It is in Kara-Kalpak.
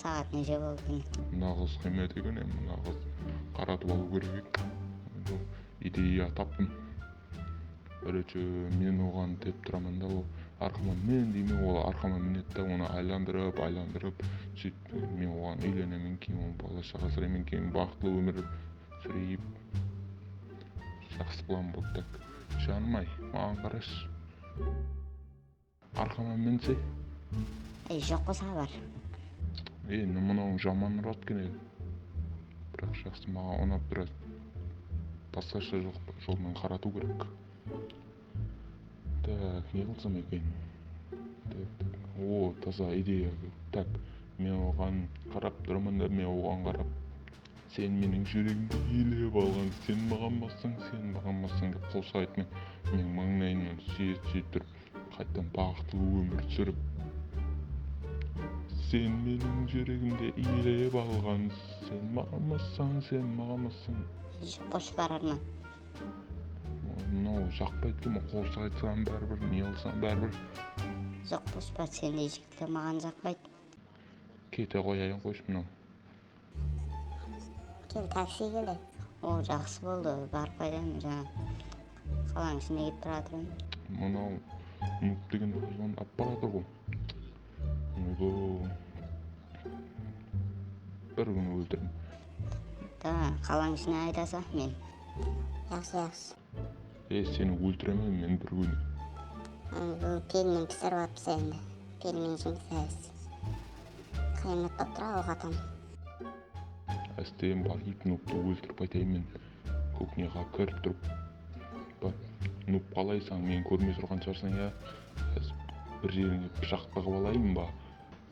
Saǵat neshe boldı kene. Mına qız qiymet eken endi mına qızdı qaratıp alıu kerek eken endi ideya taptım birінші men oǵan dep turaman da ol arqama min dey me ol arqama minedi da onı aylandırıp aylandırıp sóytip men oǵan uylenemen keyin onıń bala shaǵa asırayman keyin baxıtlı ómir súreyip jaqsı plan bol tak janım ay maǵan qarash. Arqama minsek. Ey joq qo sabar. Ey ne mınauıń jaman urad ken edi biraq jaqsı maǵan unap biraz basqasha jolmen qaratıu kerek tak ne qılsam eken tak tak o taza ideya tak men oǵan qarap turaman da men oǵan qarap Sen meniń júregimdi iyelep alǵan, Sen maǵan bassań, sen maǵan bassań dep qosıq aytmay, meniń mańlayımnan súyet-súyet turıp, qaytam baǵıtlı ómir súrip. Sen meniń júregimdi iyelep alǵan, Sen maǵan bassań, sen maǵan bassań. Eship qosıp bararman. Oy, mınau jaqpaydı eken, men qosıq aytsam báribir, ne qılsam báribir. Joq, dospa, sendey jigitler maǵan jaqpaydı. Kete qoyayın, qoysın mınau. Keyin taksi kele. Ol jaqsı boldı barıp qaytayın janan qalanıń ishinde ketip baratırmın. Mınau nuk degen qozǵandı alıp baratır ǵo oydoo bir kún óltirim. Davań qalań ishine aytasa men. Jaqsı jaqsı. Ey seni óltiremen men bir kuni. Al bul pelmen pisirip atpsa endi pelmen jumsayız qıyamet bolıp tura oq atam. Ástegen bar iyt nubtı óltirip qaytayın men kuknyaǵa kirip turıp bir nub qalaysań meni kórmey turǵan shıǵarsań ya házir bir jerińe pıshaq tıǵıp alayın ba